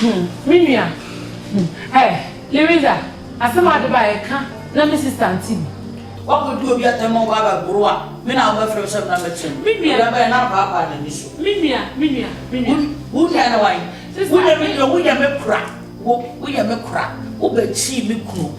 Hmm me nua hmm eh Liriza asɛm a ɔde bae ɛka na me sister nte bi. Wakɔdi obi atɛm ma ɔba abɛboro a me na wobɛfrɛ me sɛ mmra mmɛkyere no? Me nua. Obi abɛyɛ na apaapaa n'ani so. Me nua, me nua, me nua. Wo wo nua ne wan? Sister, Wo yɛ me me. deɛ woyɛ me kora, wo woyɛ me kora, wobɛkyii me kunu.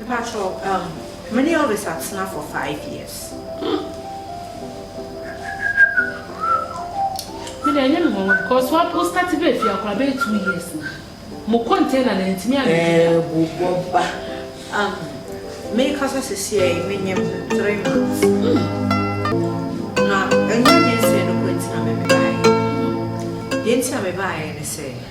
Mpakyɛw umm me ne Elvis atena for five years. Me deɛ ɛnyɛ me nwanwa because wa wo start bɛɛ fie akora bɛɛ two years na mo container na ntumi a ɛɛ bu bɔba umm me kasa sisi a me nyɛ ho three months na ɛnyɛ nyɛ nsɛn no kɔ ntina me me baayɛ deɛ ntina me baayɛ ne sɛ.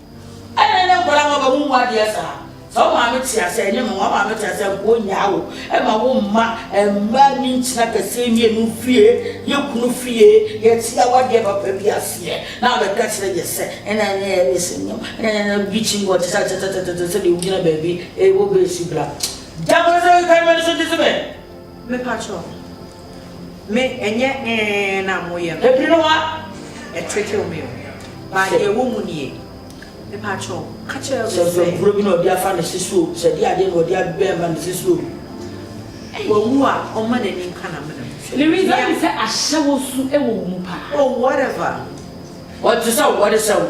Ɛna ɛnɛ nkwadaa ma bɛ mu mu adeɛ saa. Sɛ wo maame te ase ɛnyɛ ma wɔn maame te ase a nkuo nyaa wo. Ɛma wo mma mma ni nkyina kɛseɛ mmienu fie. Yɛ kunu fie yɛ te awadeɛ papa bi aseɛ. Na abɛka kyerɛ yɛ sɛ ɛna ɛnɛ yɛ ne sɛ nyam. Ɛna ɛnɛ na bi kyi wɔ te sɛ tɛtɛtɛtɛtɛ sɛ deɛ wogyina baabi ɛwɔ bɛsi bra. Gya bɛsɛ ɛka mɛ ne so te sɛ bɛ. Mepakyɛw me ɛnyɛ ee na mo yɛ no. Ɛpene wa ɛtrickew me o but deɛ ɛwɔ mu nie mepakyɛw ka kyerɛ me sɛ. Sɛ nkurɔ bi na ɔde afa ne se so o sɛ ɛde adeɛ na ɔde abɛn ma ne se so o. Wawu a ɔmma n'ani nka n'amena mu hwɛ. The reason ne sɛ ahyɛwɔ su ɛwɔ wo mu paa. Oh whatever. Ɔte sɛ wo ɔde sɛ wo.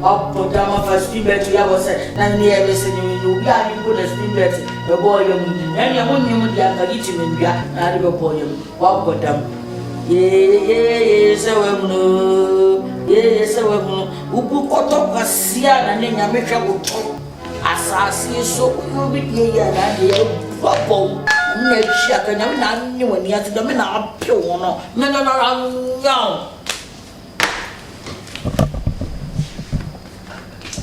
Ɔbotan ma fa spin bɛto yɛ abɔ sɛ na nnɛ yɛ bɛsɛ ne mene obi a ne bo na spin bɛte bɛbɔ ɔyɛ mu na nea mo nyɛ mu deɛ anka gye kyim ndua na ade bɛbɔ ɔyɛ mu wabɔ dam yeyeyeye sɛ wahunu yeye sɛ wahunu wobu kɔtɔ kwasia na ne nyame hwɛ wotɔ asase so woyɛ obi deɛ yɛ na ade yɛ wabɔ wo nyame na ahyia ka nyame na anye w'ani ato nyame na apew ho no mene no ara nyaw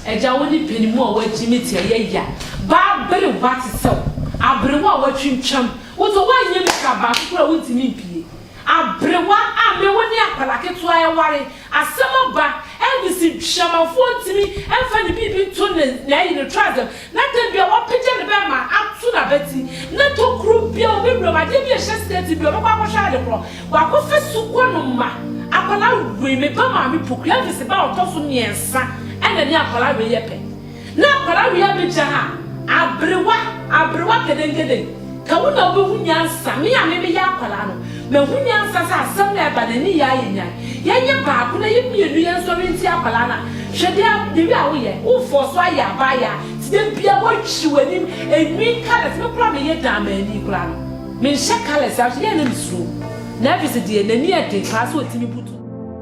Agya wo ne panimu a wagyi me ti ɛyɛ ya baa bere wa te sɛ wo aberewa a watwintwam wo to wanyɛ me ka baako koraa wo ntumi mpie aberewa a me wo ne akwadaa ketewa ɛware asɛm aba Elvis ntwitwamafoɔ ntumi mfa ne biribi nto ne na ɛyi ne trasɛm Na da bi a wapagya ne bɛmma ato n'abati, na tokuro bi a wɔbɛ wuram, adeɛ bi a ɛhyɛ skɛti bi, ɔbɛkɔ akɔhwɛ ade korɔ, wakɔfa sukua no ma akwadaa wei, me ba maame po, Gladys ba a ɔtɔ so mmiɛnsa ɛna ne akwadaa wei yɛ pɛ, na akwadaa wei abɛgya ha, aberewa, aberewa kedenkeden. Ka wo na wobɛhu nyansa. Me a me meyɛ akwadaa no, mahu nyansa sɛ asɛm no a ɛba no, ani yɛ ayɛ nyan. Yɛnyɛ baako na yɛ mmienu yɛnsɔre ntia akwadaa no a, hwɛ deɛ deɛ wei a woyɛ. Wo fɔɔ so ayɛ abaayewa nti da biara woatwiri w'anim, ɛnwi, colours. Me koraa meyɛ dan maani koraa no, menhyɛ colours a, nso yɛn na mesuro. Navis deɛ, n'ani yɛ den paa sɛ ɔtumi butu.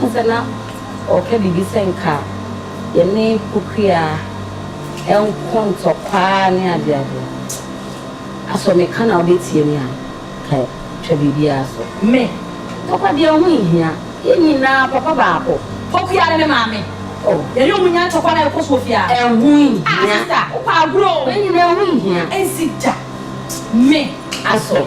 Wohu sɛ na ɔreka biribi sɛ nka yɛne kokoaa nkɔ ntɔkwaa ne adeade. Asɔ meka na wobɛtie me a, ka twa biribiara so. Me, Papa deɛ ho nhia, yɛn nyinaa papa baako. Kokoaa ne me maame. Oh, yɛne wɔn nya ntɔkwa na ɛkɔ so wɔ fie a. Ɛho nhia. Ah, sista, wopɛ agorɔ o. Yɛn nyinaa ho nhia. Ɛnsi da. Me. Asɔ.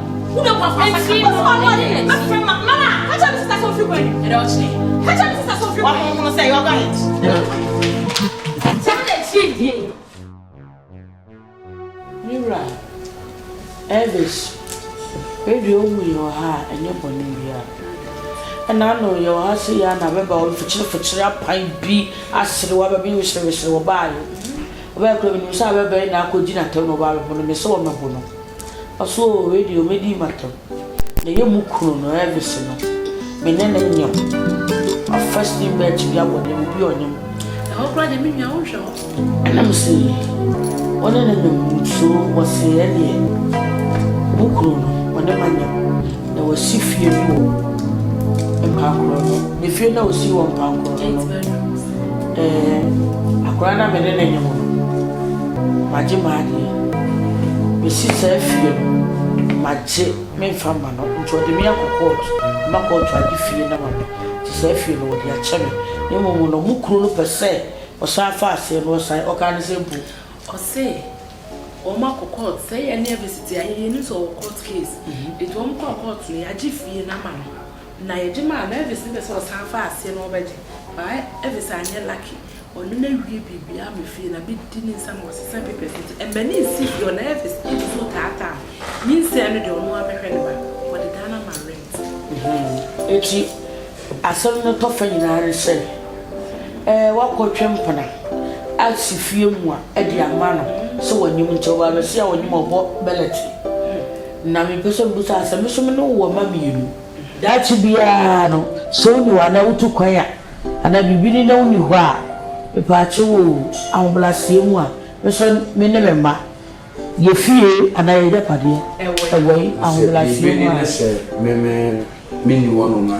wura Elvis Edwei owu yɛ ɔha a ɛnyɛ bɔne biara. Ɛna ano yɛ ɔha se ya na bɛba wɔ fikyere fikyere apan bi asere wɔ bɛbi wesere wesere wɔ baa yɛ. Ɔbɛyɛ kura minim sɛ abɛbɛn na akɔ gyina tɛm na ɔbaa bɛbo no mese wɔ mɛbo no. Ɔse oo wei deɛ ɔbɛdi matɔ na ɛyɛ mo kunu no Elvis no me ne no nyem ɔ first name bɛɛkye bia wɔ nyem bia ɔnyem ɛhɔ koraa deɛ me nua wo nhwɛ hɔ ɛna me se wo ne no nyem so ɔse ɛneɛ mo kunu no ɔne ma nyem na wasi fie bi wɔ mpankoro no ne fie na ɔsi wɔ mpankoro no no. Eh, akwadaa no a me ne no nyem no, magye m'adeɛ. Mesi saa fie no, magye memfa mma no nti ɔde me akɔ kɔɔto ma kɔɔto agye fie no ama me nti saa fie no wɔde akyɛ me. Na mmom no, mo kunu no pɛ sɛ ɔsan fa aseɛ no, ɔsan, ɔkaa ne sɛ mpo. Ɔse wɔn akɔ kɔɔto, sɛ yɛne abɛsi te a, yɛnim sɛ ɔwɔ kɔɔto case, nti wɔn kɔɔ kɔɔto no, yɛagye fie no ama no, Na yɛgye maa no Elvis ne pɛ sɛ ɔsan fa aseɛ na ɔbɛgye but Elvis anyɛ lucky ɔno na awie biribiaa me fie na me di ne nsa ma ɔsesa papers no nti ɛmɛ ne nsi fie ɔna Elvis nsuo taa taa me me nsia no deɛ ɔno ara mɛhwɛ ne ba ɔde dan no ama rent. Nti asɛm no tɔfa nyinaa ne sɛ ɛɛ wakɔ twɛ mpena asi fie mua ɛde ama no sɛ wanyim nti ɔba abɛsi a ɔnyim ɔbɔ bɛlɛte. Na mepɛ sɛ mibisa wo sɛ, me nso me ne wo wɔ mma mmienu. Daakye biara no, sɛ wo nni hɔ anaa wotu kwan a, anaa biribi ni na wunni hɔ a, mepɛ akyɛ wo o, ahobrɛaseɛ mu a, me nso me ne me mma, yɛ fie anaa yɛ agyapadeɛ, ɛwɔ yi, ahobrɛaseɛ mu a. Ɔse, biribi ni ne sɛ me me nni hɔnom a,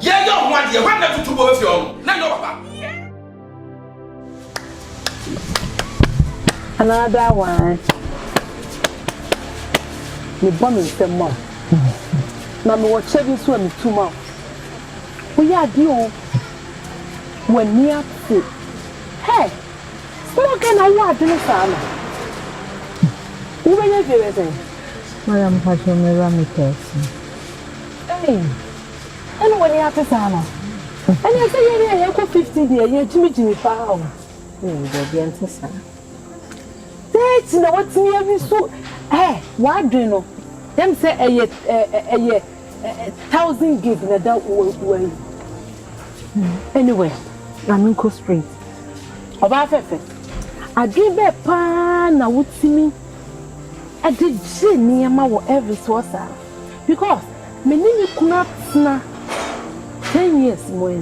Yɛ yɛ ɔho adeɛ hwan na tutu bo bɛ fie ɔno na nyɛ ɔpapa. Another one me bɔ me nsam ma wo na me wɔ kyɛ bi nso a me tu ma wo wo yɛ adeɛ o w'ani ate hey small girl na wowɔ adwene saa no wo bɛnya fie bɛ sɛn. Madam Pacho, me wura me pɛɛsi. Hey. Ɛna w'ani ate saa no? Ɛneɛ sɛ yɛn a yɛkɔ fifty deɛ yɛgyimi gyimi paa o. Ooh daabi ɛnte saa. Thirty na watumi awi so ɛ w'adwene no yɛm sɛ ɛyɛ ɛ ɛyɛ ɛ thousand gig na da wɔ wɔayi. Anyway ma me nkɔ straight. Ɔbaa fɛfɛ adwene bɛɛ paa na wotumi ɛde gye nneɛma wɔ every soɔ saa. because me ne me kunu atena ten years mu yi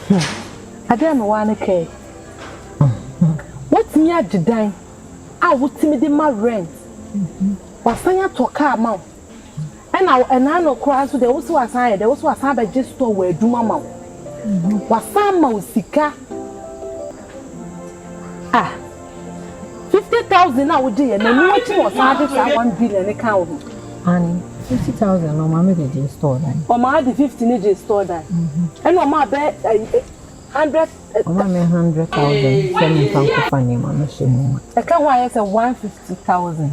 hmm adeɛ a mewɔ ne kaa yi watumi agye dan a wotumi de ma rent wasan atɔ kaa ma wo ɛna ɛna no koraa nso deɛ wosi wasan ayɛ deɛ wosi wasan abɛgye store wɔ adwuma ma wo wasan ma wo sika ah. Fifty thousand a wogye yɛ no ɛno akyi na ɔsan de saa one billion no kaa ho. Aane fifty thousand no ɔmaa me de gyee store dan. Ɔmaa de fifty no gyee store dan ɛna ɔmaa bɛ hundred. Ɔmaa me hundred thousand sɛ menfa nkɔfa nneɛma no hyɛ mu ma. Ɛka ho ayɛ sɛ one fifty thousand.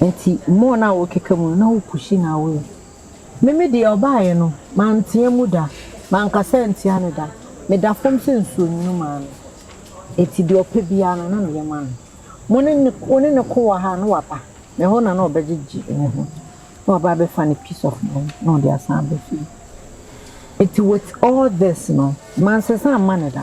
Ntsi more no a wɔkeka mu no na wo pushing no away. Me me deɛ ɔbaaeɛ no mantea mu da, mankasa antia no da, meda fam sɛ nsuo nwunu maa no. Enti deɛ ɔpɛ biara no na meyɛ ma no. Mo ne ne wo ne ne ko wɔ ha a na waba me hɔ na na ɔbɛgyegye ne ho na waba abɛfa ne peace of mind na ɔde asan aba fie. Enti with all this no mansesa amma no da.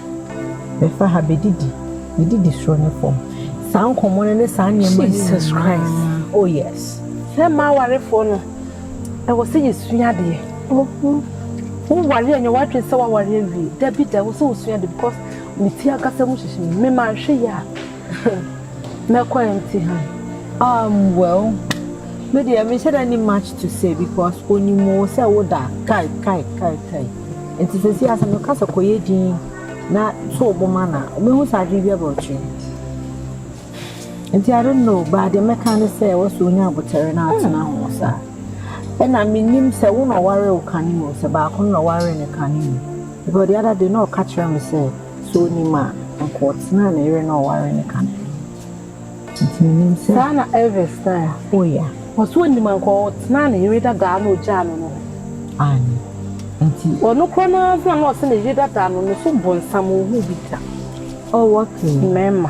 Bɛfa ha bɛdidi, bɛdidi soro ne fam. Saa nkɔmmɔ no ne saa nneɛma no Jesus Christ. Oh yes. Sɛ mmaa awarefoɔ no, ɛwɔ sɛ yɛsua adeɛ. Woware anyɛ w'adwene sɛ woaware awie. Dabi da, ɛwɔ sɛ wosua adeɛ because me fie ankasa mu hyehye me. Me manhwɛ yɛ a, mɛkɔ empty hand. Um, well, me deɛ mehyɛ da ni much to say because onim wo sɛ woda kai kai kai kai. Ntsi sesei asɛm no kasa kɔ yɛ dzinn na so ɔbɔ mu ana? Mehu dza adwen biara bɛkyerɛ ntsi I don't know but dza mɛka nye sɛ wɔse onya abotar na atsena ho sa nna minnyim sɛ wo na ɔwaree wo kan mu sɛ baako no na ɔwaree no kan mu because the other day na ɔka kyerɛ me sɛ sɛ ɔnnyim a nka ɔtsenaa ne yere na ɔwaree no kan mu. Saa na Elvis kae. Ɔse onnim anka ɔtenaa ne yere dada a na ogyaa no no ho. Ɔno koraa no ara na ɔse ne yere dada no, no so bonsam, onhuu bi da. Mmarima.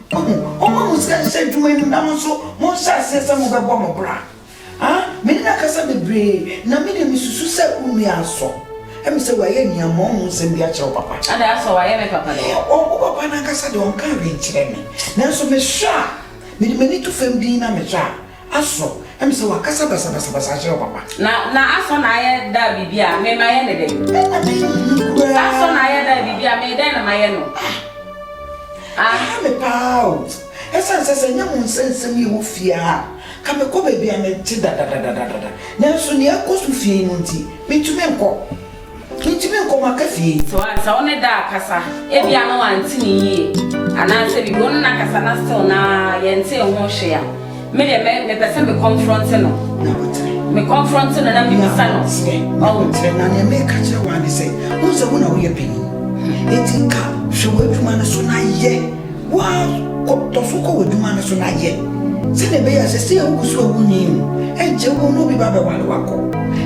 Ɔhu, ɔma mo sika hyɛ adwuma no mu, na mo nso monhyɛ aseɛ sɛ mobɛbɔ mo bra. Ha, me ne no akasa bebree, na me deɛ mesusu sɛ wo nua asɔ me sɛ wayɛ aniammɔn ho nsɛm bi akyerɛ wo papa. Ada, Asɔ wayɛ me papa dɛn? Ɔ, wo papa no ankasa deɛ ɔnkaa hwee nkyerɛɛ me, nanso mehwɛ a, mede m'ani to fam dinn na mehwɛ a, Asɔ, ɛm sɛ wakasa basabasabasa akyerɛ wo papa. Na na asɔ na ayɛ da biribi a me mayɛ ne dɛn? Ɛna me yiyi koraa. Asɔ na ayɛ da biribi a me dɛn na mayɛ no? Ah! Ah! Ɛha me paa o. Ɛsan sɛ sɛ nyɛ mo nsa nsɛm yi wɔ fie ha a, ka me kɔ baabi a me te dadadadadada. Nanso nea ɛkɔ so fie yi no nti, me ntumi nkɔ. Enti me nkɔm aka fie. Sɛ wa sɛ wo ne da akasa ebia na wante ne yie anaa sɛ biribi wo ne no akasa na still na yɛntee ho hwee a me deɛ mɛ mepɛ sɛ me confronte no Na botere. me confronte no na mebisa no Botere, na ɔho. botere, na nea meka kyerɛ wo ara ne sɛ, wohu sɛ wo na woyɛ panin, enti nka hwɛ w'adwuma no so na yɛ. Wo ara wo tɔ so kɔ w'adwuma no so na yɛ sɛnea ɛbɛyɛ a seesei a wugu so a wunyin no, ɛnkyɛ wo ne obi bɛbɛware wakɔ.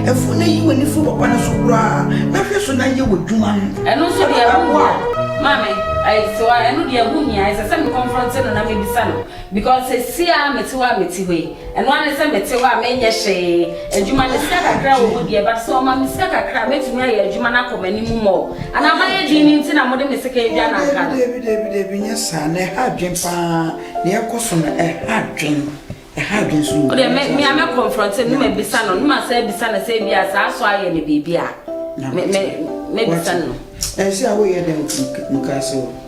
Ɛforo na yi w'ani fi papa no so koraa na hwɛ so na yɛ w'adwuma no. Ɛno nso deɛ ɛbɛboa wo. Maame, I, so a ɛno deɛ ɛho hia? Ɛsɛ sɛ me confront no na mebisa no because seesei a mete hɔ a mete hɔ yi, Ɛno ara ne sɛ mete hɔ a menyɛ hwee. Adwuma no, sika kakra a ɔwɔ mu deɛ, but sɛ ɔma me sika kakra a, mɛtumi ayɛ adwuma no akɔ m'anim mmɔ o. Anaa mayɛ din no nti na mode me sekan dwa no anka no? Dabi, dabi, dabi, dabi, nyɛ saa. Na ɛha adwene pa ara. Deɛ ɛrekɔ so no, ɛha adwene. Ɛha adwene nso o. O deɛ, me, me a mɛ confront no, ne mabisa no, ne masan abisa no sɛ ebia saa so ayɛ no biribi a, me, me, mɛbisa no. Ɛnse a woyɛ dɛn nti, nka ase o.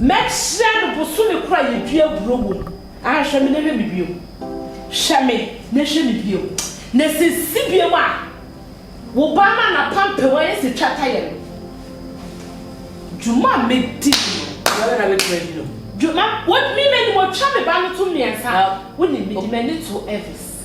Mɛkyerɛ no bosome korɔ a yɛdua aburoo wɔ mu, ahwɛ me na hwɛ me bio, hwɛ me na hwɛ me bio, na sɛ ɛsi bio a, wo ba no a n'apampam ayɛ sɛ twata yɛ no, dwuma a mɛdi no, W'ara na wobɛtumi adi no. dwuma, me, menim, ɔtwa me ba no to mmiɛnsa, wonim, mede m'ani to Elvis.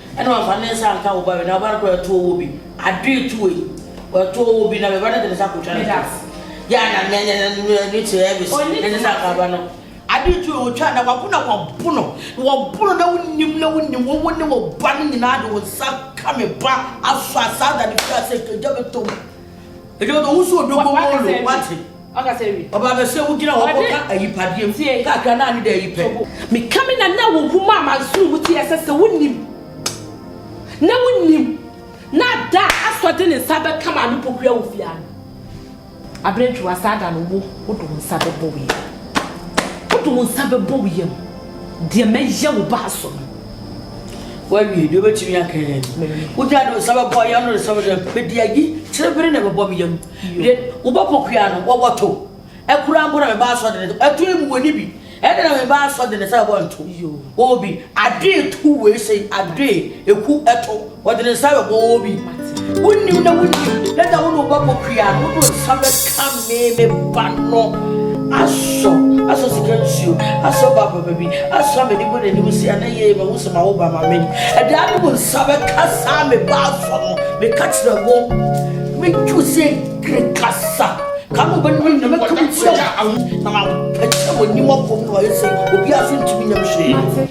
Ɛna ɔmfa ne nsa nka wo ba wei, na wo ba no kora atu ɔwɔ bi. Adoe to wei, watu ɔwɔ bi, na me ba no de ne nsa akɔtwa ne to. Yɛ a na me ne ne ne ne te Elvis, ne ne nsa nka ba no. Adoe to wei, wɔtwa na wɔako na wɔabo no, na wɔabo no na wonim na wonim, wo wo ne wo ba no nyinaa de wo nsa ka me ba asɔ asaa da no firi ase, kagya me to mu. Ɛdi ɔdɔ wusu odogbo mu olo wate. Ɔba bɛ sɛ wogyina hɔ kɔka ayipadeɛ mu kakra na ne da ayi pɛ. Meka me na na wo hu ma amansoro mu ti ɛsɛ sɛ wonim na wonim na da asɔ de ne nsa bɛka maame poku awo fia no aberɛntwiwa saa da no wo wode wo nsa bɛbɔ wo yam wode wo nsa bɛbɔ wo yam Deɛ mɛyɛ wo ba so no. Woawie deɛ wobɛtumi aka yɛ no. Wogyina de wo nsa bɛbɔ yɛ no de sɛ wode pɛdi ayi kyerebere na ɛbɛbɔ me yam. Deɛ wobɛbɔ kua no wɔwɔ to. Ɛkura mpo na me ba asɔ de ne to. Ɛto emu wɔ ne bi. Ɛde na me ba asɔ de ne sɛ ɛbɔ nto. Obi adoe to wei sɛ adoe eku ɛto. Wɔde ne nsa bɛbɔ wo bi. Wonnim na wonnim na da wo ne wobɛbɔ pia no wode nsa bɛka me me ba no asɔ asɔ sika nsuo asɔ ba papa bi asɔ amani bɔ n'anim si ana yie ma wo sɛ ma wo ba ma me ɛda ne mu nsa bɛka saa me ba asɔ no meka kyerɛ wo metwu sɛ kiri kasa ka no bɛnum nyina mɛka mu kyerɛ wo na mapɛkyɛ w'anim akɔm na wayɛ sɛ obiara so ntumi nyam hwee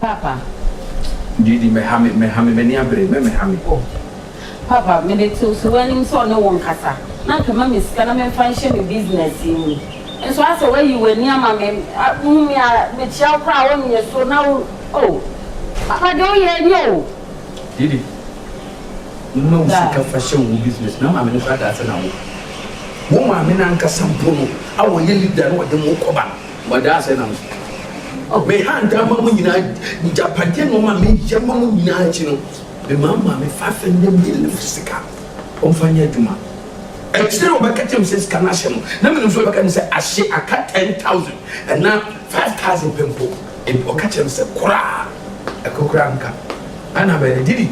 Paapa. Didi mɛha me, mɛha me, m'ani abere, mɛ mɛha me. O, Paapa, me de tew so w'anim sɛ ɔne wo nkasa, na anka ma me sika na memfa nhyɛ me business yi mu. Nso asɛ woayi w'ani ama me, a, wohu me a, mekyia wo koraa a, wonyɛ so, na wo, o, Paapa, deɛ woyɛ nyɛ o. Didi, ma wo sika fa hyɛ wo business, na maame no koraa daa sɛ na wo, wo maame no ankasa mpo no, a ɔyɛ leader no, ɔde mo rekɔba no. Wɔda ase nam so. Me hantan ama mo nyinaa agyapadeɛ ne wɔn a meyɛ ma mo nyinaa akyi no, memaa maame Fafe ne ne yere no sika wɔmfa nyɛ adwuma. Akyire no wɔbɛka kyerɛɛ me sɛ sika no ahye no, na menim sɛ wɔbɛka kyerɛ me sɛ ahye aka ten thousand anaa five thousand pɛ mpo. Enti wɔka kyerɛɛ me sɛ koraa ɛko koraa nka. Ɛnna me yere Didi,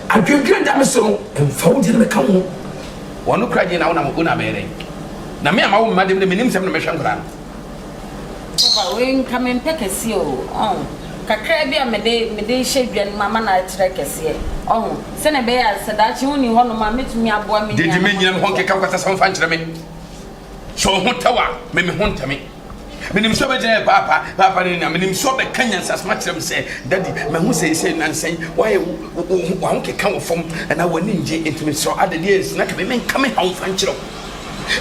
adwendwene da me so no, mfa wo deɛ no mɛka wo ho. Wɔn no kura gye na wo na me yere. Na me a mawo me mma deɛ menim sɛ me na mɛhwɛ nkwadaa no. Papa wei nka me mpɛ kɛseɛ o ɔho kakra bi a mede mede hyɛ dwa no mu ama no akyerɛ kɛseɛ ɔho sɛnea ɛbɛyɛ a sɛ daakye wo ni hɔ nom a mɛtumi aboa me nuanom nti. Gyegye me nyina me hɔ nkeka nkwasa sɛm fa nkyerɛ me sɛ ɔho tɛw a me me ho ntɛ me menim sɛ ɔbɛgyina yɛ paapa paapa ne na menim sɛ ɔbɛka nyansasɛm akyerɛ me sɛ daddy mahu sɛ ɛsɛ nansa yi wayɛ wo ho keka wɔ fam anaa w'ani ngye nti mesrɛ adɛdeɛ ɛnsi na ka me menka me haw fa nkyerɛ wo.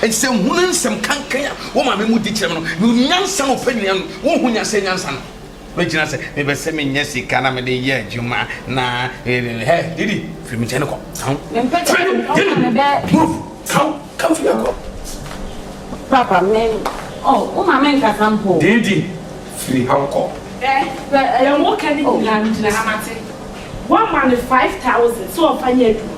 Enti sɛ nhunu nsɛm kankan a wo maame mu di kyerɛ me no, me hu nyansa a ɔpɛ nnuan no, wo nhu nyansa nyansa no. Me gyina sɛ me bɛ sɛ me nya sika na me de yɛ adwuma na ɛɛ hɛ didi firi me kyɛn kɔ kan. Firi me didi move kan kan firi me kɔ. Papa me oh wo maame nkasa mpo. Didi firi ha kɔ. Ɛ bɛ ɛyɛ mo kɛ ne nyinaa me gyina ha ma te. Wa ma ne five thousand sɛ ɔfa nyɛ adwuma.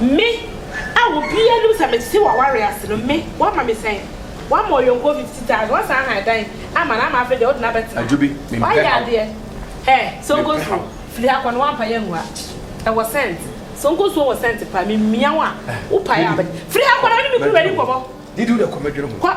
Me a obiara nim sɛ mete w'aware ase no, me, woama me sɛn? Woama ɔyɔnkoɔ fifty thousand, woasan ahan dan ama no ama afei deɛ wode no abɛtena ha. Adwobi, mempɛ haw. Woayɛ adeɛ. Hɛ, Sonko nsuo, firi ha kɔ na woampa yɛ angu ha. Ɛwɔ scent. Sonko nsuo wɔ scent paa, memia wo a, wopae a wobɛte. Firi ha kɔ na wone me kunuba nni nkɔmmɔ. Didi, wo deɛ kɔ, mɛdwene ho. Kɔ.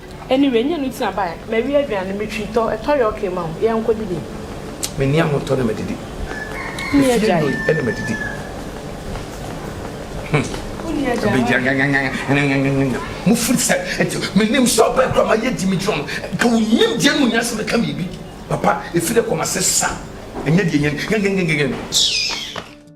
Anyway nyɛ no tina bae mawie aduane no metwi tɔ ɛtɔ yɛ okay ma wo yɛnkɔ didi. Me ni ahotɔ na madidi. Me fie nnoi na madidi. Mo firi sɛ ɛti menim sɛ ɔbɛn kora mayɛ di megyina no nka wo nim deɛ no nya sɛ meka biribi papa ɛfiri kɔ ma se sa ɛnyɛ deɛ nyɛ no.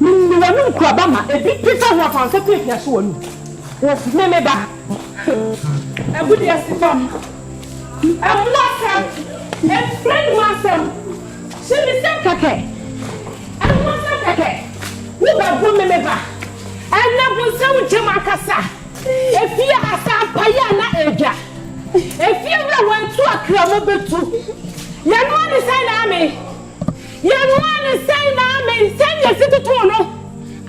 Mene w'anum kuraba ma ebi peta ho afa nsa piapia so w'anum. Woff me me ba agudeɛ se fam ɛmmoa asɛm ɛmfra anum asɛm se me sɛm kɛkɛ ɛho asɛm kɛkɛ wo bɛ bo me me ba ɛnɛ bonsam nkyɛm akasa efie asampa yɛ na ɛdwa efie wura wɔatu akra mo bɛtu yɛnoa ne sɛn na ame Yɛnoaa no sɛn na amen sɛn yɛsi totoo no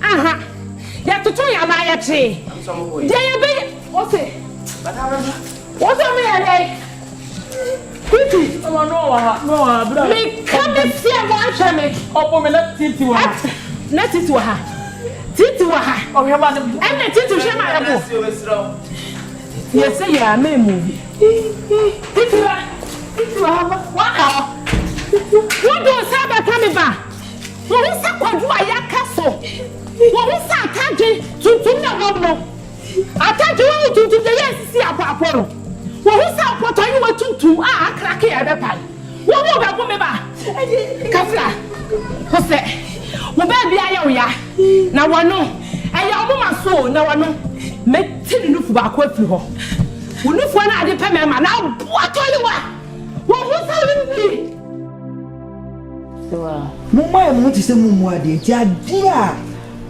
aha yɛtotoi anaa yɛkyee deɛ yɛbɛyɛ ose ose meyɛ dɛn titi meka meseɛ moanhwɛ me at na titi wɔ ha titi wɔ ha ɛnna titi hwɛ ma yɛbo. Yɛse yɛ a mɛ mu bi. Titi ba titi wɔ hɔ waka hɔ. Wodo nsa abɛka me ba. Wohu sɛ kwadu a yɛaka so. Wohu sɛ atade tuntum na wɔm no. Atade wɔn tuntum deɛ yɛ nsisi apɔapɔ no. Wohu sɛ mpɔtɔ yi wɔ tuntum a akrake a ɛbɛpae. Wo mu bɛko me ba kasa ho sɛ wo baabi ayɛ wo ya na wano ɛyɛ ɔmo ma so o na wano mɛ ti ne nufu baako afiri hɔ wo nufuo na ade pɛ mɛ ma na abo atɔli wa wo ho sa wo nwi. Mo mma yɛ mo ho te sɛ mo mmu adeɛ nti adeɛ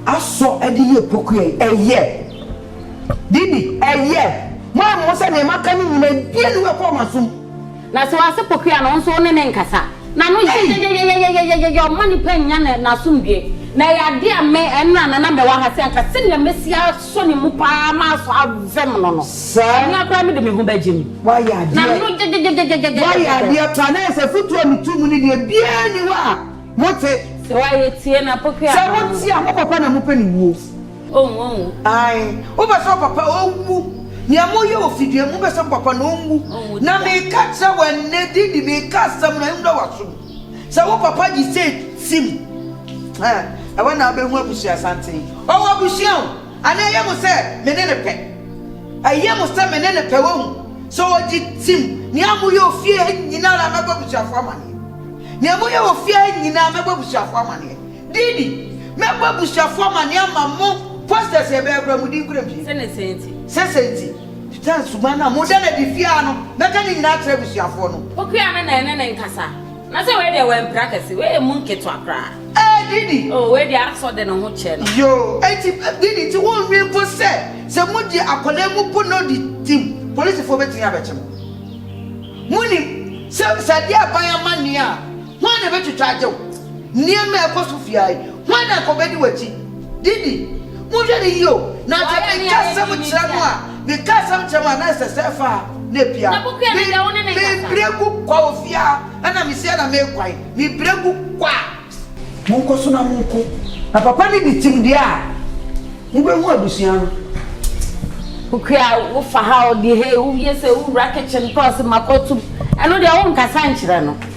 a asɔ de yɛ pokuya yi ɛyɛ didi ɛyɛ mo ayɛ mo ho sɛ nneɛma ka ne nyina bie ne wɛkɔ ɔma som. Na sɛ ɔase po kua no, wo nso wo ne no nkasa. Na no yɛ yɛyɛyɛyɛyɛyɛyɛyɛ ɔmma nnipa nnya ne n'asomdwoe. Na ɛyɛ ade a me, ɛnna na na mewɔ ha sɛ anka sɛnea mɛsi asɔ ne mu pa ara ma asɔ avɛm no no, ɛno ara koraa mede me ho bɛgye mu. Woayɛ adeɛ. Na no gyegyegyegyegyegyegyɛ. Woayɛ adeɛ paa. Na ayɛ sɛ afotuo a metu mu no deɛ, biara nni hɔ a mote. Sɛ woayɛ tie na po kua no. Sɛ mote a, mo papa na mopɛ ne wuo. Ɔnwu, ɔnwu. Ae, wopɛ sɛ wo papa ɔnwu? Nea moyɛ wɔ fidua mu, wopɛ sɛ mo papa no ɔnwu? Ɔnwu da. Na meka kyerɛ wo ɛnnɛ, din de meka asɛm no ɛnwura w'asom, sɛ wo papa gye Seth sim a, ɛhɔ na wobɛhu abusuasanten. Ɔwɔ abusua o, anaa ɛyɛ mo sɛ me ne no pɛ? Ɛyɛ mo sɛ me ne no pɛ, woahu? Sɛ ɔgye sim, nea moyɛ wɔ fie ha nyinaa ara mɛbɔ abusuafoɔ amaneɛ. Nea moyɛ wɔ fie ha nyinaa mɛbɔ abusuafoɔ amaneɛ. Didi, mɛbɔ abusuafo amanneɛ ama mo. Posters a yɛbɛkora mu din kura mu pii. Senesɛ nti. Sɛsɛ nti. Sutan suban no a moda no adi fie ha no, mɛka ne nyinaa akyerɛ abusuafoɔ no. Pokuya no na ɛne no nkasa. Na sɛ wei deɛ wampira kɛse, wei yɛ mu nketewa koraa. Ɛɛ Didi. Oo, wei deɛ asɔ de ne ho kyerɛ no. Yoo, enti Didi, nti wonnwen mpo sɛ sɛ mogye akwadaa yi mopo no di tim, polisifoɔ bɛtumi abɛkye mo? Monim sɛ sɛ adeɛ reba yɛn amanneɛ a, Hwan na obetwitwa agye wo? Nneɛma a ɛkɔ so fi ha yi, hwan na anka obedi w'akyi? Didi, monhwɛ no yiye o, na anka meka asɛm kyerɛ mo a, meka asɛm kyerɛ mo a, na ɛsɛ sɛ ɛfa ha na epue ha. Me, mebere gu kwa wɔ fie ha, ɛna mesi ha na meguan. Mebere gu kwa. Monkɔ so na monko. Na papa no di tim deɛ a, mubehu abusua no. Kukua, wofa ha o, di ha yi, woyɛ sɛ wowura kitchen, tɔɔse ma kɔ tom. Ɛno deɛ, wonkasa nkyerɛ no.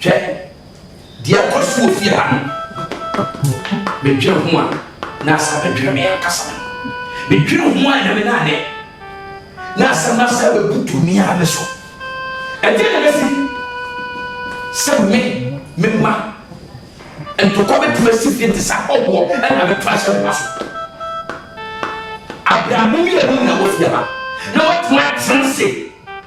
Hwɛ deɛ ɛkɔ so wɔ fie ha no. Medwene ho a, na asɛ abɛdwene me ankasa me ho. Medwene ho a, Nyame na anɛ. Na asɛm no asɛ abɛbutu me ara me so. Ɛdeɛ na ɛbɛsi sɛ me, me mma, ntɔkwa bɛtumi asi fie te sɛ ahɔhoɔ na abɛto ahyɛ me mma so. Abrɛamo mmienu na ɛwɔ fie ha na wɔatumi atena ase.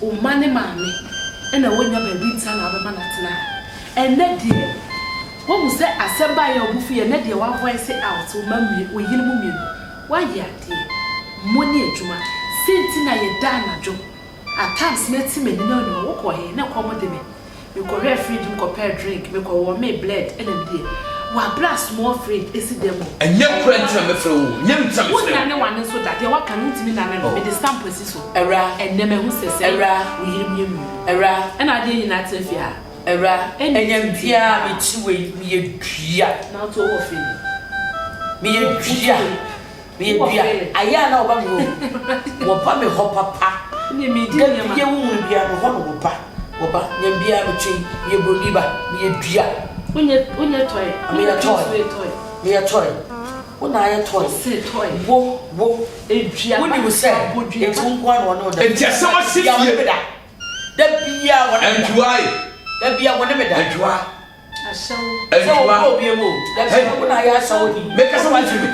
Wo mma ne maame na wɔnnya baabi nsa na wobɛma no atena ha. Ɛnnɛ deɛ, woahu sɛ asɛm baeɛ a wo bo fu yɛ, ɛnnɛ deɛ woavoice out, wo mma mmienu, wo yere mo mmienu, woayɛ adeɛ, mo ne adwuma, sɛ nti na yɛda anadwo, at times mɛte m'ani na wonnim a, wokɔ he? Na ɛkɔm de me. Mekɔhwɛɛ fridge mu kɔpɛɛ drink, mekɔ wɔmee bled ɛna me deɛ wabrɛ a small fridge ɛsi dɛm o. Ɛnyɛ korɛ nti na mɛfrɛ wo o, ɛnyɛ me nti na mefrɛ wo. Wonyane wane nso da, deɛ waka no wontumi nane no, mede stamp asi so. Awuraa. Ɛnnɛ mahu sɛ sɛi Awuraa. wo yere mmienu no. Awuraa. Ɛna adeɛ nyinaa tena fie ha. Awuraa. Ɛnyɛ me biaa a mekyi wei, meyɛ dua. Na wote wo hɔ firi. Meyɛ dua. Meyɛ dua, ayɛ a na wɔba me hɔ wu. Wɔba me hɔ papa, da bia wo hunu bia me hɔ na wɔba. Wɔba, nyɛ bia me twe yi, meyɛ broni ba, meyɛ dua. Wonyɛ toy, meyɛ toy, meyɛ toy, wo na ayɛ toy, wo, wo, wodi wo sɛ, eti wo nkoa na wɔne wo da. Enti asɛm asi fie. Da bia wɔne me da. Da bia wɔne me da. Adwuma. Hey. Meka sɛ wofi me.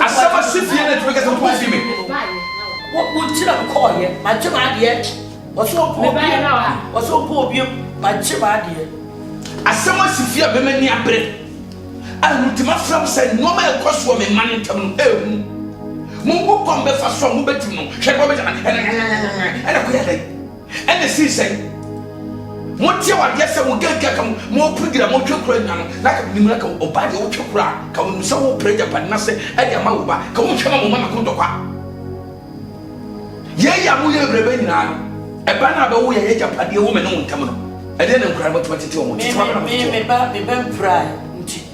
Asɛm a si fie na ɛtumi ka sɛ wofi me. Wokyerɛ m kɔɔyɛ, magye m'adeɛ. Wɔsɛ ɔbɔ obie, wɔsɛ ɔbɔ obie, magye m'adeɛ. Asɛm a si fie a mɛma ni abere. A wotumi afra m sɛ nneɛma a ɛkɔ soɔ me mma no ntam no ɛhu. Mo ngu kwan bɛfa so a mobɛtim no, hwɛ deɛ wɔbɛgya no ɛnɛ ɛnɛ ɛnɛ kɔyɛ dɛn? Ɛna ɛsii sɛ moteɛ wɔ adeɛ sɛ mokanka ka mopere gyina motwe kora nwa no, na ka menim na ka ɔbaa deɛ wotwe kora a, ka wonim sɛ wopere agyapade no ase de ama wo ba, ka wonhwɛ ma mo mma mako ntɔkwa. Yei a moyɛ berɛ bɛ nyinaa no, ɛba no a bɛwo yɛ y'agyapadeɛ wɔ me ne wo ntam no, ɛdeɛ na nkuraa no bɛtumi atete wɔn? Tete wɔn bɛ na motete wɔn?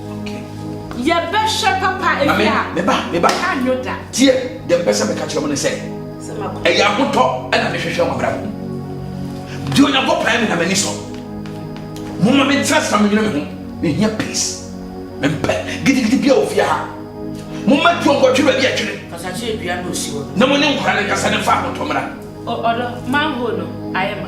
yɛbɛhwɛ papa ebi a meba meba ka nyo da tie deɛ mpɛ sɛ meka kyerɛ mo ne sɛ ɛyɛ ahotɔ ɛna mehwehwɛ mo abrabɔ deɛ onyankopɔn me na m'ani sɔ moma mentena sa menwene me ho mehia peace mempɛ gidigidi bia wɔ fie ha moma tuo nkɔtwe baabi atwene na mo ne nkora ne nkasa ne mfa ahotɔ mmra ɔdɔ manhole no ayɛ ma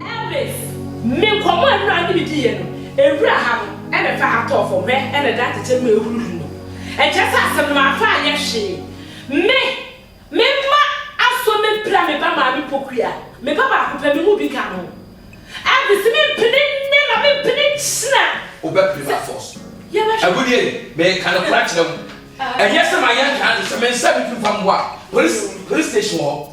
Elvis, Me nkɔmmɔ a Awuraa ne me diiɛ no, Awuraa ha no na ɛfa ha tɔɔ fam, hwɛ na ɛda atɛkyɛ mu a ɛrehuruhuru no. Ɛnkyerɛ sɛ asɛm no mamfa anyɛ hwee. Me, me mma asɔ me pira me ba maame Pokuya, me ba baako pɛ, me mu bi ka no. Elvis, Mempene nnɛ na mempene nkyena. Wobɛpene by force. Yɛbɛhwɛ. Agudeɛ ni, meka nokorɛ akyerɛ wo. Ɛnyɛ sɛ mayɛ nkaa no, sɛ mensa me firi fa mmoa a, polis, polis station wɔ hɔ.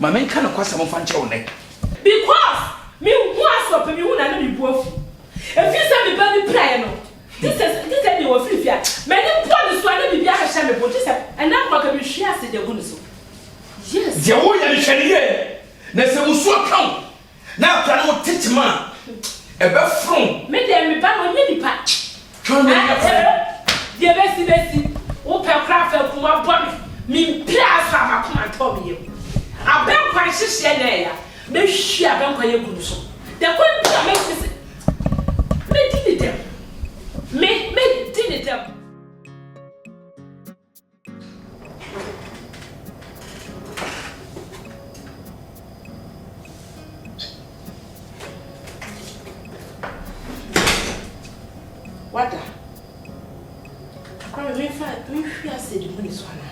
Ma menka nokwasɛm mfa nkyerɛ wo nnɛ. Because me ho asɔ pɛ me hu na ne me bu afu ɛfiri sɛ me ba bi piraeɛ no gye sɛ gye sɛ deɛ wafiri fie a m'ani bɔ ne so a na biribi ahyehyɛ me bo gye sɛ ɛnna mpo anka me hwie ase de agu ne so yes. Deɛ wo yɛ no hwɛ no yie na sɛ musuo ka wo Na akora no ho tete ma ɛbɛforo. Me deɛ me ba no ɔnyɛ nipa. Twa no nya fo. Akyɛrɛ deɛ ɛbɛsi bɛsi wo pɛ koraa fa akum abɔ me me mpira aso a m'akoma ntɔ me yam. Abɛnkwa nhyehyeɛ na ɛya mɛhwie abɛnkwa yi agu no so da kwan bi a mɛsi sɛ mɛdi ne dɛm me mɛdi ne dɛm. Wada. Kwame, me fa, me hwi ase de mu ni so ana.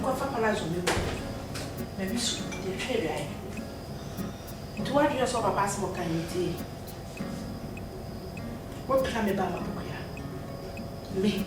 Nko fa pala zo me. Na bi so, de hwe de ai. Nti wa dwe so papa asem kan ni ti. Wo pira me ba ma bukuya. Me.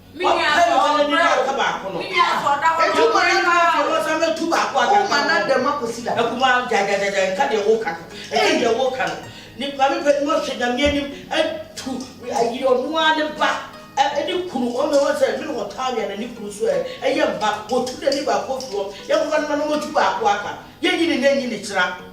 Ɔpɛ na ɔde ne dɔ ka baako no. Enti woma na nka deɛ wɔsa mɛtu baako a nka nka na dɛm akɔsi da. Akuma gyagyagyagyɛ nka deɛ woka no. Nka deɛ woka no. Ne maame pɛ no ɔhyɛ nyame anim atu ayi ɔno ara ne ba ɛne kunu wɔn na wɔn sɛ mene wɔtaa wia na ne kunu so ɛ ɛyɛ mma wɔtu n'ani baako firi wɔn yɛnkɔfa no ma no wɔtu baako aka yɛnyi ne nɛ nyi ne kyena.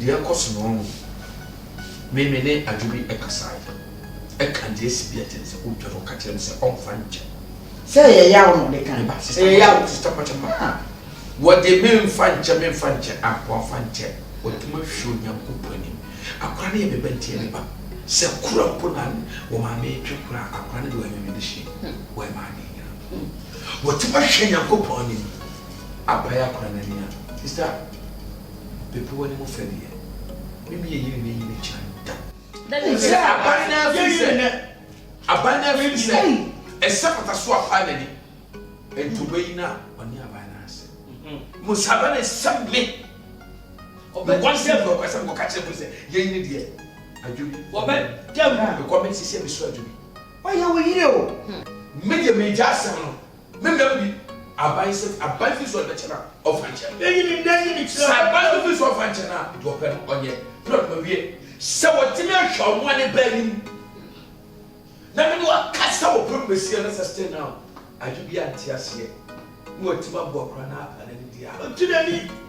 Deɛ ɛkɔ so no no, me me ne Adwo bi kasaeɛ, ɛka deɛ asi bi akyerɛ no sɛ ɔretwa no, ɔka kyerɛɛ me sɛ ɔmfa nkyɛ. Sɛ ɛyɛ yaw na ɔde kan ba, sista ɛyɛ yaw, sista mpakyɛ ma a, wɔde memfa nkyɛ, memfa nkyɛ, akoa fa nkyɛ, wɔde mahwie Onyankopɔn anim. Akoa no yɛ me ba nti ɛyɛ me ba. Sɛ kura mpo na wɔ maame retwe kura a, akoa no deɛ ɔyɛ me me de hyɛ mu, ɔyɛ maame nyina. Wɔde mahwie Nyankopɔn anim, apae akora no ani a. Sista, Bepɔw no mu fɛ deɛ, me ne yɛn yere na enyi bɛkyerɛ no da. Wohu sɛ aban no ara firi sɛ, aban no ara firi sɛ, ɛsɛ apata so apa n'ani, nti obeyi no a, ɔne aban no ara sɛ. Mmom sɛ aban no ɛsɛ me, mekɔ sɛ mekɔkasa, mekɔka kyerɛ mu sɛ, yei ne deɛ, adwo bi, wɔbɛda mu, mekɔ me sisi a, mesɔ adwo bi. Ɔyɛ wo yere o. Me deɛ megya asɛm no, Me da bi aban sɛ aban fi so a ɛbɛkyɛ no a ɔmfa nkyɛ no. Eyi ne nnɛ yɛ ne kyerɛ. Sɛ aban no fi so a ɔmfa nkyɛ no a, deɛ ɔpɛ no ɔnyɛ. Berɛ a ɔdoma wie. Sɛ wɔtumi ahwɛ ɔno a ne ba anim na me ne wo akasa wɔ pɛ mu bɛsia na sɛ still now adwo biara nte aseɛ na watumi aboa koraa na apa n'ani deɛ a. Ɔnte n'ani.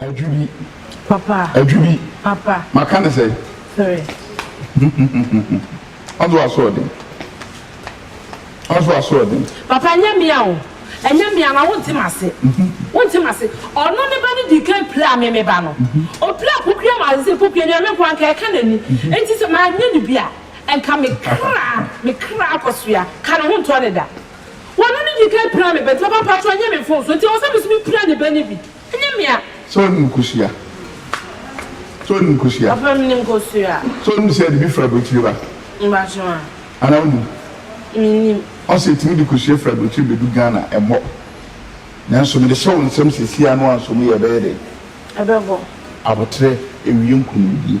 Adwi bi. Papa. Adwi bi. Papa. Maka ne sɛ. Sere. Ɔnso asoɔden. Ɔnso asoɔden. Papa ɛnyɛ mea o. Ɛnyɛ mea na wonte m'ase. Wonte m'ase. Ɔno ne ba no dii kan piraa me me ba no. Opiraa Pokuya maa sɛ Pokuya nua me nko ara nka ɛka n'ani. Enti sɛ manyɛ no bi a nka me kra me kra akɔsoa. Ka ne ho ntɔ ne da. Ɔno ne dii kan piraa me ba nti papa mpakyɛw nyɛ me mfomso nti ɛwɔ sɛ me nso mepira ne ba no bi. Ɛnyɛ me a. Sɛ ɔnim kosua. Sɛ ɔnim kosua. Papa menim kosua. Sɛ ɔnim sɛ yɛde bi fra aburokyire ba. Mpakyɛw a. Anaa wonim. Menim. Ɔse yɛtumi de kosua firi aburokyire bɛdu Ghana ɛmmɔ. Nanso mede hyɛ wo nsam sɛ si ano anso mu yɛ ɛbɛyɛ dɛn? Ɛbɛbɔ. Aboterɛ ɛwie nkonimdie.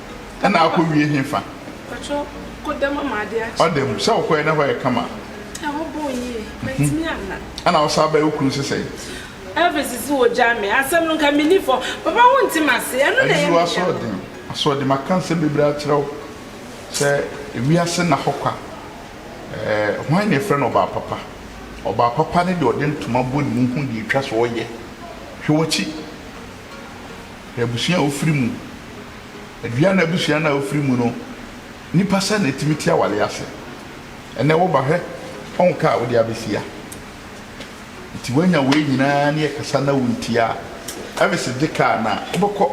Ɛna akɔ wie he fa? Mpakyɛw, kɔ dɛm ama ade akye. Ɔda mu. Sɛ ɔkɔɛ na hɔ yɛ kama a? Ɛhɔ bɔɔ yie. Mantumi anna. Ɛna ɔsaa bae wo kunu se sɛn? Elvis se ogyaa me. Asɛm no nka menni fɔ. Papa wonte m'ase. Ɛno na ɛyɛ me yaw. Ayiwa asoɔden. Asoɔden. Maka nsɛm bebree akyerɛ wo sɛ wiase nna hɔ kwa. Ɛɛ, hwan na yɛfrɛ no ɔbaa papa? Ɔbaa papa ne deɛ ɔde ntoma bɔ ne mu hu deɛ etwa sɛ ɔyɛ. Hwɛ w'akyi. hwɛ abusua a ofiri mu, dua no abusua no a ofiri mu no, nipa sɛ na etumi te aware ase. Ɛnɛ wo ba hwɛ ɔn ka a wode abesia. Nti wanya wei nyinaa ne ɛkasa na wontie a, ɛvis gye ka na wobɛkɔ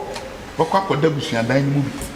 bɛkɔ akɔda abusuadan no mu bi.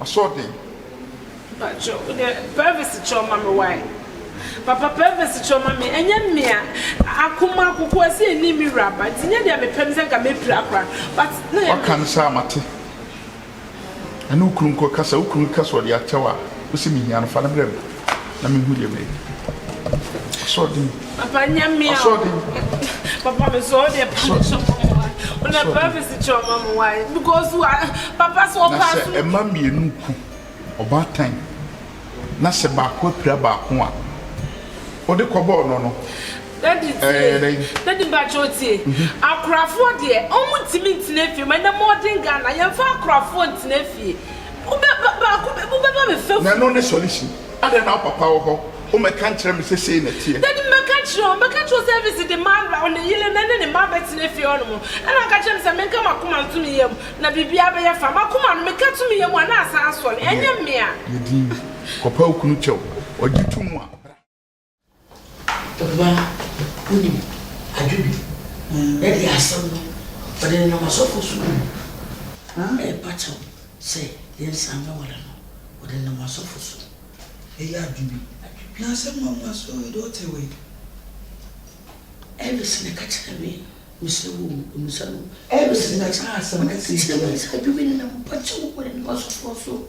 Asoɔden. Mpakyɛw wo deɛ privacy kyɛw ma me wai papa privacy kyɛw ma me ɛnyɛ mmea akoma akokoa sɛ ɛni me wura ba nti nyɛ deɛ me pɛ me sɛ nka mɛ pira kora but na yɛ waka no saa mate ɛne wo kunu nkɔ kasa wo kunu kasa ɔde akyɛw a wo se me hia no fa no brɛ me. na mehu deɛ mɛyɛ asoɔden papa nyɛ me asoɔden papa me sɔ deɛ pa me sɔ mo na prophesy kyerɛ ɔma mo wae because wa papa sɛ ɔpa so na sɛ ɛma mmienu ku ɔbaatan na sɛ baako apira baako a ɔde kɔbɔɔ no no dadi tie dadi mpakyɛ otie akorafoɔ deɛ ɔmo ntumi ntena fie ma ɛnɛ mɔden ghana yɛmfa akorafoɔ ntena fie Wobɛ ba baako bɛ wobɛ ba me fɛfu. Nano ne sɔre si. Adɛn na wo papa wɔ hɔ? Wo mɛ ka nkyerɛ me sɛ sei na ɛteɛ. Dadi mɛ ka nkyerɛ wo, mɛ ka nkyerɛ wo sɛ Elvis de ma ra ne yere nɛ ne ne mma bɛ tena fie hɔ nom. Ɛna ɔka kyerɛ me sɛ me nka m'akoma nto me yam na biribiara bɛ yɛ fa. M'akoma no me ka to me yam a na asan asɔre. Ɛnyɛ me a. Yɛ din. Kɔpa wo kunu kyɛw. Ɔgye to mu a, bra. Ɔbaa, wonim, adwo bi. Daddy asɛm no, ɔde nenam asɔfoɔ so gu mu. Ɛrepa kyɛw sɛ yɛnsan mmɛware no, ɔde nenam asɔfo so. Ɛyɛ adwo bi. Na asɛm no nwa so o, deɛ ɔte wei. Elvis na ɛka kyerɛɛ me, mesrɛ wo o, mmisa no. Elvis na ɛkaa asɛm no siesie. Ɔde nenam asɔfo so.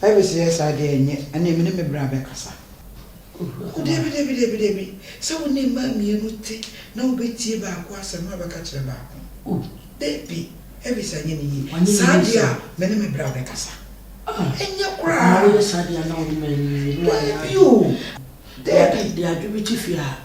Bible se yɛ saa deɛ ɛnyɛ ɛneɛ me ne me bra bɛkasa. Oh dabi dabi dabi dabi sɛ wo ne mmaa mmienu te na wo bɛ tie baako asɛm na wabɛka kyerɛ baako oh dabi Elvis anyɛ ne yie saa deɛ a me ne me bra bɛkasa ɛnyɛ koraa dabi oh dabi.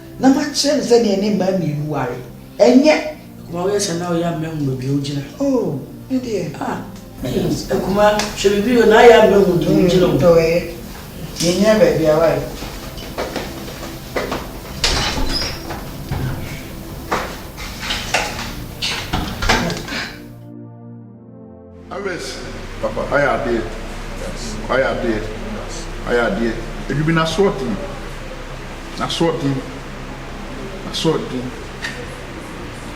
Na makyerɛ no sɛdeɛ ne mmaa mmienu ware ɛnyɛ. Akumaa woyɛ sɛ na ɔyɛ mmahu baabi a wogyina. Oh me deɛ. Ah ɛyɛ akumaa hwɛ biribi o na ayɛ mmahu deɛ wogyina o. Dɔ ɛyɛ yɛn nyɛ baabi a ware. Ares papa ayɛ adeɛ wayɛ adeɛ wayɛ adeɛ adwumi no asoɔden asoɔden asoɔden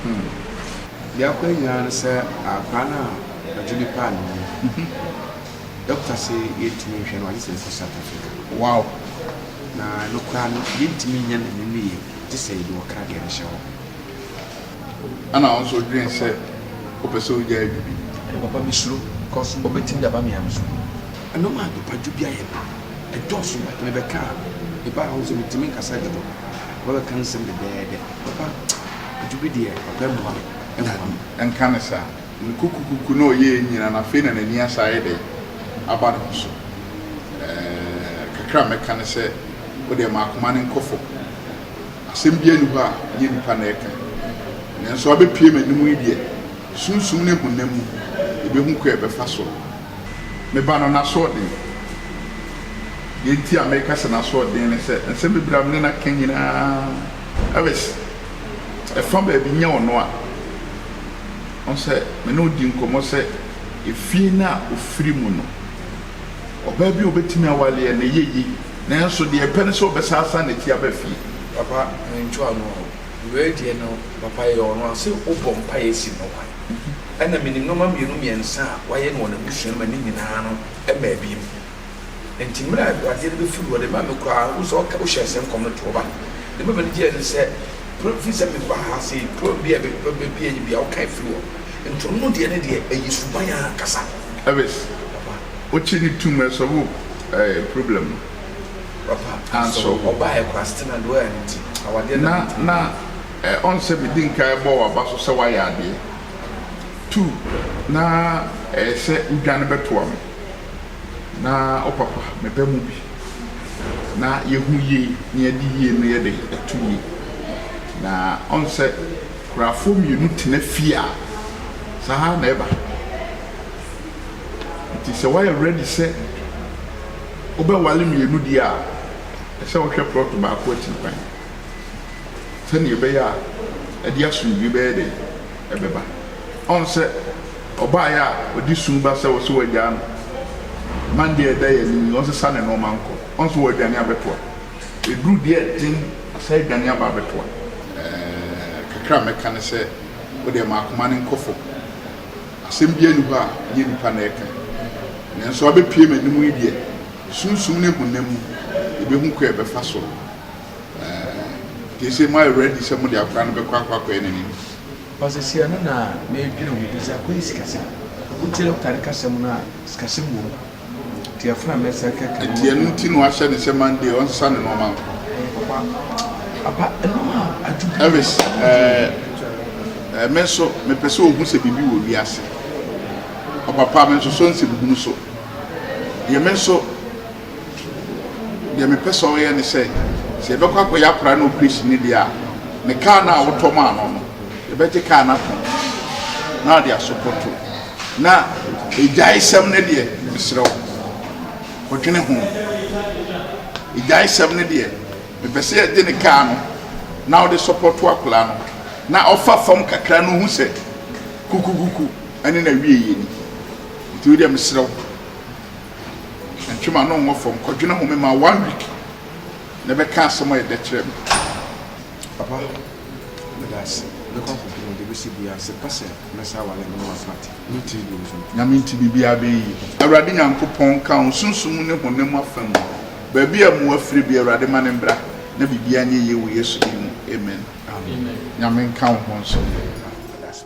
hmm. Deɛ akɔ yie ara ne sɛ akwadaa no a ɔgye ne paa no wu. Dɔkta se yɛntumi nhwɛ no agye sɛ yɛkɔ South Africa. Wow! Na ɛno koraa no yɛntumi nyɛ n'ani no yie gye sɛ yɛde ɔkra deɛ no hyɛ hɔ. Ɛna wo nso wodwen sɛ wopɛ sɛ wogyae biribi. Ɛna papa me suro cos ɔbɛtumi de aba me yam so. Ɛna maa papa dwo bi ayɛ me. Ɛdɔɔso but me bɛka a me ba a wohu sɛ me tumi nkasa dodo papa bɛka nsɛm dɛdɛɛdɛ papa dwo bi deɛ papa ɛmmoa me ɛmmoa me. Nka no saa. Me kukukuku na ɔyɛɛ nyina no afei na n'ani asan ayɛ dɛn aba ne ho so ɛɛ kakra a mɛka ne sɛ wodeɛ ma akoma no nkɔ fam. Asɛm biara nni hɔ a ɛnyɛ nnipa na ɛreka. Nanso abɛpue m'anom yi deɛ, sunsum ne honam mu yɛbɛhu kwan a ɛbɛfa so. Me ba no, n'asoɔden. Deɛ nti a meka sɛ n'asoɔden ne sɛ, nsɛm bebree a me ne no aka nyinaa, Ellis, ɛfa baabi nyɛ ɔno a. Woahu sɛ, me ne wo dii nkɔmmɔ sɛ efie no a ɔfiri mu no, Ɔbaa bi a obetumi aware yɛ ne yɛyi, nanso deɛ ɛpɛ ne sɛ ɔbɛsan asan ne ti aba fie. Papa me nto ano o. Wei deɛ no papa yɛ ɔno a se wo bɔ mpaeɛ si no kwan ɛna menim nnoɔma mmienu mmiɛnsa a wayɛ no wɔ n'abusua no mu a ne nyinaa no ɛmmaa bi mu nti mmerɛ a adeɛ no bɛfiri hɔ deɛ ɛma me kura wohu sɛ ɔka wohyɛɛ sɛ nkɔm no to ɔba deɛ ɛma m'ani gyeɛ ne sɛ pro firi sɛ meba ha se program bi a ɛbɛbɛbie yi bi a wokae firi hɔ nti ɔno deɛ ne deɛ ɛyɛ suban ankasa. Elvis. Okye ne tum ɛsɔvo ɛɛ problem no. Papa asɔ ɔbaa yɛ kora still na deɛ ɔyɛ no nti awadeɛ na ɛntumi. Na na ɔn sɛ me di nkan ɛbɔ waba so sɛ wayɛ adeɛ tu na ɛyɛ sɛ wo dwane bɛtoa me na wo papa me bɛ mu bi na yɛ hu yie na yɛ de yie no yɛ dɛn ɛto yie na ɔn sɛ kurafoɔ mmienu tena fie a saa na ɛba. Nti sɛ woayɛ ready sɛ wobɛwale mmienu deɛ a, ɛsɛ sɛ wohwɛ plot baako akyiri kwan sɛdeɛ ɛbɛyɛ a ɛde asomdwoe bɛyɛ dɛn? Ɛbɛba. Ɔn sɛ ɔbaeɛ a ɔde su ba sɛ ɔsɛ wagyaa no Monday a ɛda yɛn anim yi, ɔnsesa ne nnoɔma nkɔ. Ɔn sɛ ɔredwane abɛtoa. Ɛduru deɛ ɛden, ɔsan adwane aba abɛtoa. Ɛɛ, kakra a mɛka ne sɛ, wo deɛ ma akoma no nkɔ fam. Asɛm biara nni hɔ a ɛnyɛ nnipa na ɛreka. Nanso abɛpue m'anom yi deɛ, sunsum ne honam mu, yɛbɛhu kwan a yɛbɛfa so. Ɛɛ, gye sɛ moayɛ ready sɛ mode akwadaa no bɛkɔ akɔ akɔyɛ n'anim. Pastor Siano na mɛdwene ho bisa, kɔ yɛ sikasɛm. Wotie Loctite kasɛm no a, sikasɛm wɔ mu. Enti ɛno nti na wahyɛ no sɛ Monday ɔnsesa ne nneɛma no. Elvis, ɛɛ, me nso mepɛ sɛ ohu sɛ biribi wɔ wiase. Ɔpapa, me nso so nsɛm hunu so. Deɛ me nso, deɛ mepɛ sɛ ɔyɛ ne sɛ, sɛ yɛbɛkɔ akɔyɛ akora no operation ne deɛ a, ne kaa no a wotɔ maa no no, yɛbɛgye kaa no atɔn na ɔde asopɔto. Na agyaesɛm no deɛ, mesrɛ wo, kɔdwene ho. Agyaesɛm no deɛ, mepɛ sɛ yɛde ne kaa no na wode sɔpɔto akwadaa no na ɔfa fam kakra na ɔhu sɛ kukukuku ne n'awieeɛ ni. Nti wo deɛ mesrɛ wo, ntwe m'ano nwɔ fam, kɔdwene ho. Mema wo one week na bɛka asɛm a ɛyɛ dɛ kyerɛ me, papa. Meda ase. Mɛkɔ akɔdwene deɛ ɛbɛsi biara sɛ ɛba sɛ mɛsan aware no ma Pat ne tiri bio nso. Nyame nti biribiara bɛyɛ yie. Awurade Nyankopɔn nka wo sunsum mu ne honam mu afa mu. Baabi a mmoa firi biara Awurade ma no mbra na biribiara nyɛ yie wɔ Yesu din mu. Amen. Nyame nka wo ho nso. Meda ase.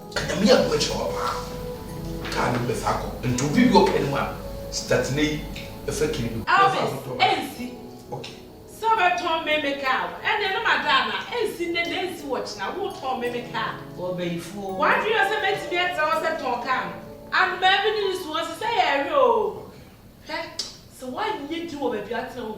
Nyame yɛ adom akyerɛ wo paa car no bɛ fa kɔ nti obi bi ɔpɛ no a start nɛ yi ɛfɛ kini bɛ bɛ fa kɔ tɔ ɛnsi ok sɛ ɔbɛ tɔn meme car no ɛnɛ no ma da ana ɛnsi nɛ nɛ ɛnsi wɔ kyena wo tɔn meme car wɔ bɛ yi fuo wa dwene yɛ sɛ mɛ timi ɛtra hɔ sɛ tɔn car no anomaa bi ne ne suo ɔsesɛ yɛ ɛhwɛ oo hwɛ sɛ wa nyɛ di wɔ bɛ bi atena wo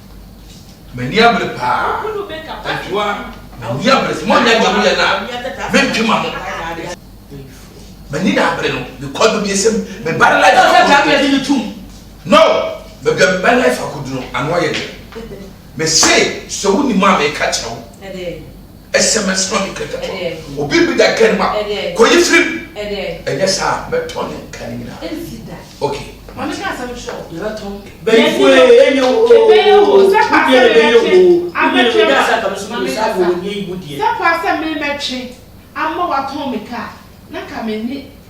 M'ani abere paa. Ɛtoa m'ani abere sɛ monyɛ deɛ moyɛ no a mentwe ma mo. M'ani na abere no because baabi ɛsɛ mu me ba no life akɔdu no. No, baabi a me ba life akɔdu no ano ayɛ den. Mese sɛ wonim a meka kyerɛ wo. sms ma me kɛtɛtɔ obi bi da kɛn ma kɔ yi firi mu ɛnyɛ saa mɛtɔ ne nka ne nyinaa ok mami ka asɛm kyerɛ o yɛbɛ tɔ bɛyifu ye enyo o ebɛyɛ o sɛ pa asɛm yɛ twe amɛtwe ma mami ka sa sɛ pa asɛm mi mɛtwe ama watɔn mi ka na ka mi ni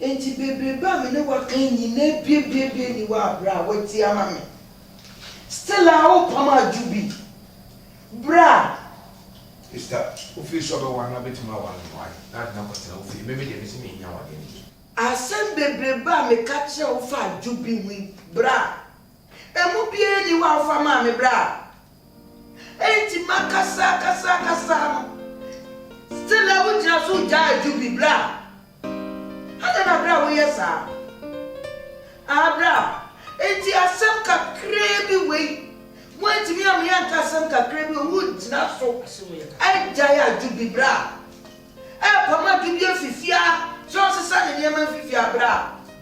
Enti bebrebe a me ne wo aka yi nyinaa biabiabiaa nni hɔ a berɛ a woatie ama me still a worepam adwo bi berɛ a. Mister, wofii sɛ ɔbɛware no abɛtumi aware no why? Na ade no akɔtena wo fie. Me me deɛ mese mennya awadeɛ no bi. Asɛm bebrebe a meka kyerɛɛ wo fa adwo bi ho yi berɛ a. Emu biara nni hɔ a wofa maa me bere a enti makasa kasa kasa no. Still a wugyina so gyaa adwo bi bra. Adɛn na bra woyɛ saa? Ah bra, enti asɛm kakraa bi wei, woantumi ammea anka asɛm kakraa bi wei, wugyina so agyae adwo bi bra. Ɛrepam adwo bi afi fie a, sɛ ɔsesa ne nneɛma mfi fie a bra.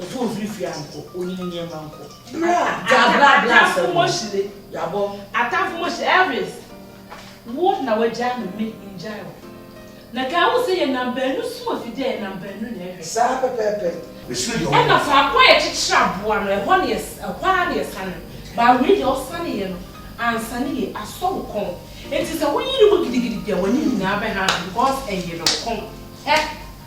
Eto ofiri fie ankɔ, onini nneɛma nkɔ. Bra, gya bra bra asɛm no, yabɔ. Atamfo mo hyire, Elvis. Wo na wagyaa me, me ngyae wo. Na kae wo sɛ yɛnam baanu sum afidie a yɛnam baanu na ɛhwɛ. Saa pɛpɛɛpɛ, mesuro deɛ ɔbɛka. Ɛna faako a yɛkyekyere aboa no, ɛhɔ na ɛhɔ ara na yɛsane ba. Wei deɛ ɔsaneeɛ no ansane yie, asɔ wo kɔn. Enti sɛ woyere mu gidigidi deɛ w'anim nyinaa bɛhaaha because ɛyere wo kɔn. Hɛ!